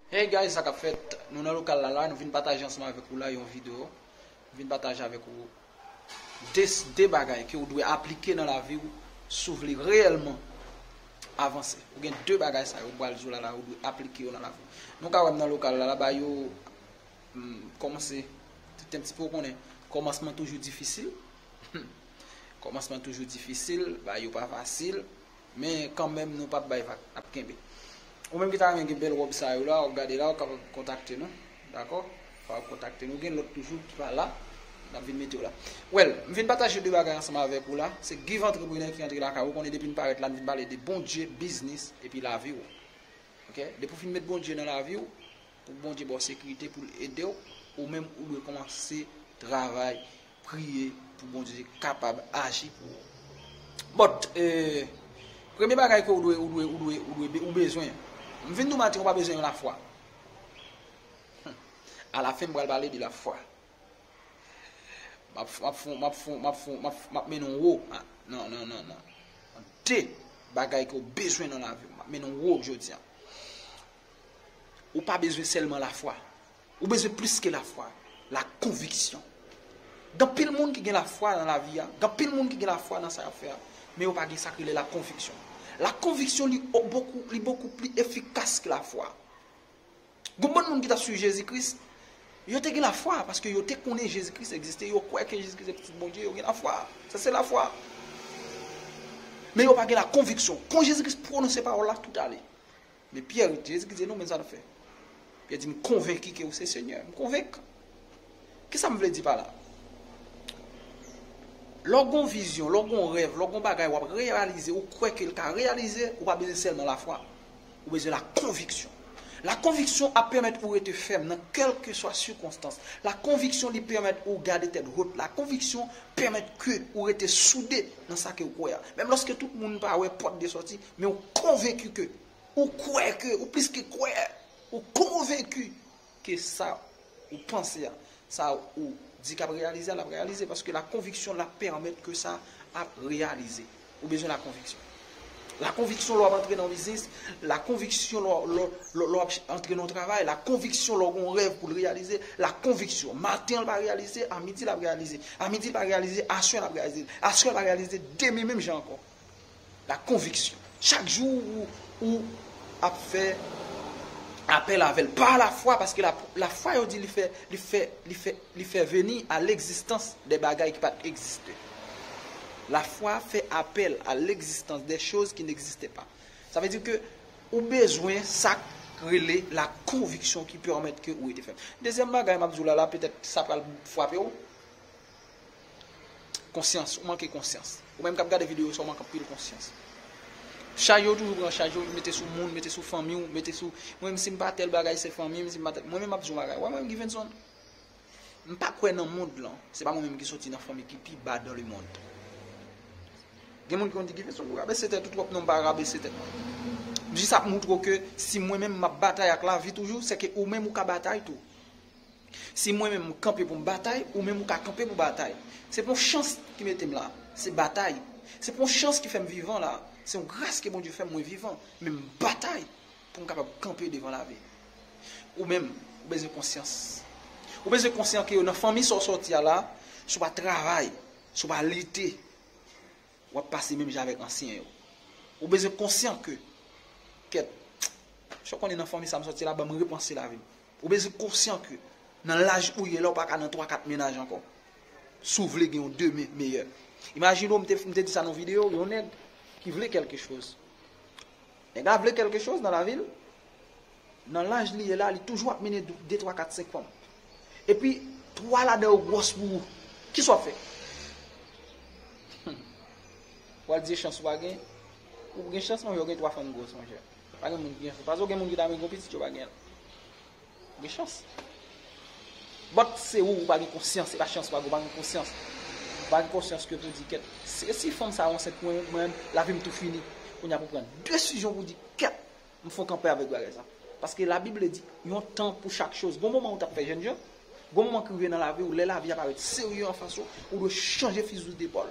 Hey guys sa kap fèt Nou nan lokal la la Nou vin pataje ansanm avèk ou la yon video Nou vin pataje avèk ou de 2 bagay ke ou dwe aplike nan lavi ou si ou vle reyèlman avanse ou gen 2 bagay sa yo m pral di w la la ou dwe aplike yo nan lavi ou nou ka wè m nan lokal la la ba yo m kòmanse tout un petit peu ou konnen kòmansman toujou difisil kòmansman toujou difisil ba yo pa fasil Men kanmenm nou pap bay vag, nap kenbe. Ou menm ki ta renmen gen bèl wòb sa yo la, wap gade la, ou kapab kontakte nou. Dakò? Ou kapab kontakte nou. Gen lòt toujou ki pa la, nap vin mete yo la. Well, m vin pataje 2 bagay ansanm avèk ou la, se Give Entrepreneur ki antre lakay ou, ou konnen depi n parèt la n vin pale de Bondye, biznis, epi lavi ou. Ok, depi w fin met Bondye nan lavi w, pou Bondye ba w sekirite pou l ede w, ou menm ou dwe kòmanse travay Priye pou Bondye kapab aji pou ou. But premye bagay ke ou dwe ou dwe ou dwe ou dwe ou bezwen. M vin di w maten ou pa bezwen yon lafwa. A la fen m pral pale de lafwa. Map map fon map fon map fon map map mennen w wo nan nan nan nan de bagay ke ou bezwen nan lavi w. Map mennen w wo jodi a. Ou pa bezwen sèlman lafwa. Ou bezwen plis ke lafwa, lakonviksyon. Gen anpil moun ki gen lafwa nan lavi a, gen anpil moun ki gen lafwa nan sa y ap fè a, men yo pa gen sa k rele lakonviksyon. Lakonviksyon li bokou, li bokou pli efikas ke lafwa. Gon bann moun ki t ap suiv Jezi Kris, yo te gen lafwa, paske yo te konnen Jezi Kris egziste, yo kwè ke Jezi Kris se Pitit Bondye, yo gen lafwa. Sa se lafwa. Men yo pa gen lakonviksyon. Kon Jezi Kris pwononse pawòl la, tout ale. Men Pyè ret di, Jezi ki di, e nou menm sa n'ap fè? Pyè di, m konvenki ke ou se Senyè, m konvenk. Kisa m vle di pa la? Lè w gon vizyon, lè w gon rèv, lè w gon bagay w'ap reyalize, ou kwè ke l ka reyalize, ou pa bezwen sèlman lafwa, ou bezwen la konviksyon. La konviksyon ap pèmèt ou rete fèm nan kèlkeswa sikonstans. La konviksyon li pèmèt ou gade tèt hot. La konviksyon pèmèt ke ou rete soude nan sa ke ou kwè a. Menm lòske tout moun pa wè pòt de sòti, Men ou konvenki ke, ou kwè ke, ou plis ke kwè, ou konvenki ke sa ou panse a, sa ou di kap reyalize a, lap reyalize, paske la konviksyon la pèmèt ke sa ap reyalize. Ou bezwen la konviksyon. La konviksyon lè wap antre nan yon biznis, la konviksyon lè wap antre nan yon travay, la konviksyon lè w gen yon rèv pou l reyalize, la konviksyon. Maten l pa reyalize, a midi lap reyalize. A midi l pa reyalize, aswè lap reyalize. Aswè l pa reyalize, demen menm jan ankò. La conviction. Chak jou ou ap fè apèl avè l. Par la fwa, paske la fwa yo di li fè, li fè, li fè, li fè veni a legzistans de bagay ki pat egziste. La fwa fè apèl a legzistans de choz ki n'egziste pa. Sa vle di ke ou bezwen sa k rele la konviksyon ki pèmèt ke ou rete fèm. Dezyèm bagay m'ap di w la la, petèt sa pral fwape w. Konsyans, ou manke konsyans. Ou menm kap gade video sa ou mank anpil konsyans. Chaj yo toujou pran chaj yo, mete sou moun, mete sou fanmi ou, mete sou mwen menm si m pa tèl bagay se fanmi m, si m pa tèl, mwen menm map di yon bagay, wè mwen menm Givenson, m pa kwè nan mond lan, se pa mwen menm ki soti nan fanmi ki pi ba dan le mond. Gen moun ki konn di Givenson ou rabese tèt ou twòp, non m pa rabese tèt mwen. Jis ap moutre w ke si mwen menm map batay ak lavi toujou, se ke ou menm ou ka batay tou. Si mwen menm m kanpe pou m batay, ou menm ou ka kanpe pou batay. Se pa yon chans ki mete m la, se batay. Se pa yon chans ki fè m vivan la, se yon gras ke Bondye fè m mwen vivan. Men m batay pou m kapab kanpe devan lavi. Ou menm, ou bezwen konsyans. Ou bezwen konsyan ke nan fanmi sa w sòti a la, si w pa travay, si w pa lite, w ap pase menm jan avèk ansyen yo. Ou bezwen konsyan ke, kèt, sa w konnen nan fanmi sa m sòti la ban m repanse lavi m. Ou bezwen konsyan ke nan laj ou ye la ou pa ka nan 3, 4 mennaj ankò. Si w vle gen yon demen meyè. Imajine w, m te m te di sa nan yon videyo, yon nèg ki vle kèlke choz. Nèg la vle kèlke choz nan lavi l, nan laj li ye la, li toujou ap mennen 2, 3, 4, 5 fanm. Epi 3 ladan yo gwòs pou ou. Ki sa w ap fè? Ou al di e chans ou pa gen? Ou p gen chans monchè, ou gen 3 fanm gwòs monchè. Pa gen moun ki gen fou. Pase w gen moun ki ta renmen gen yon pitit yo pa gen l. Ou gen chans. But se ou ou pa gen konsyans. Se pa chans pa gen ou pa gen konsyans. Ou pa gen konsyans ke pou di kèt. Se si fanm sa ansent pou mwen menm la vi m tou fini. Kounya pou pran desizyon pou di kèt. M fon kanpe avèk bagay sa. Paske la bible di yon tan pou chak choz. Gon moman ou tap fè jènjan. Gon moman ki rive nan lavi ou lè lavi a parèt serye anfas ou. Ou dwe chanje fizi depòl.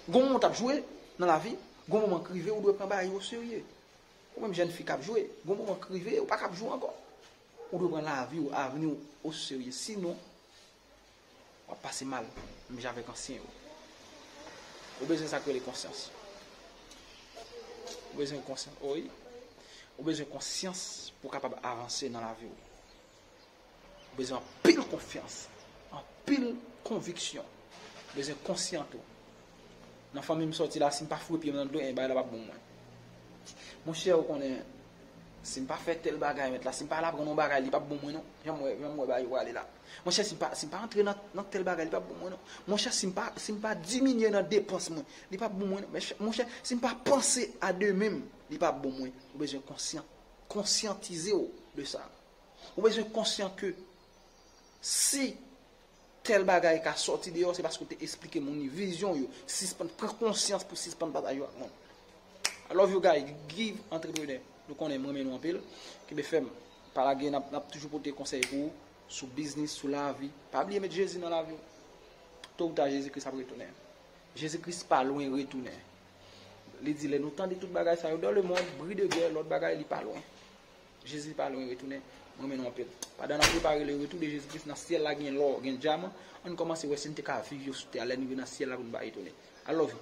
Gon moman ou tap jwe nan lavi. Gon moman k rive ou dwe pran bagay yo oserye. Ou menm jèn fi k ap jwe, gon moman k rive ou pa ka ap jwe ankò. Ou dwe pran lavi ou, avni ou oserye. Sinon, w ap pase mal menm jan avèk ansyen yo. Ou bezwen sa k rele konsyans. Ou bezwen konsyans, wi. Ou bezwen konsyans pou w kapab avanse nan lavi ou. Ou bezwen anpil konfyans, anpil konviksyon. Ou bezwen konsyan tou. Nan fanmi m sòti la, si m pa foure pye m nan dlo, ebyen bagay la p ap bon pou mwen. Monchè, ou konnen, si m pa fè tèl bagay mèt la, si m pa al aprann yon bagay, li p ap bon pou mwen non. Jan m wè, jan m wè bagay yo prale la. Monchè, si m pa, si m pa antre nan tèl bagay, li p ap bon pou mwen non. Monchè, si m pa, si m pa diminye nan depans mwen, li p ap bon pou mwen non. Monchè, si m pa panse a demen m, li p ap bon pou mwen. Ou bezwen konsyan, konsyantize w de sa. Ou bezwen konsyan ke si tèl bagay ka sòti deyò se paske ou te esplike moun li vizyon yo. Sispann pran konsyans pou sispann pataje yo ak moun. I love you guy, Guy Entrepreneur. Nou konnen m renmen nou anpil. Kenbe fèm. Pa lage n ap toujou pote konsèy pou ou sou biznis, sou lavi. Pa bliye met Jezi nan lavi w. To ou ta Jezi Kris ap retounen. Jezi Kris pa lwen retounen. Li di lè nou tande tout bagay sa yo, dans le monde, bri de gè, lòt bagay, li pa lwen. Jezi pa lwen retounen, m renmen nou anpil. Pandan n ap prepare le retou de Jezi Kris, nan syèl la gen lò, gen dyaman, ann kòmanse wè si n te ka viv yo sou tè a lè n rive nan syèl la pou n pa etone. I love you.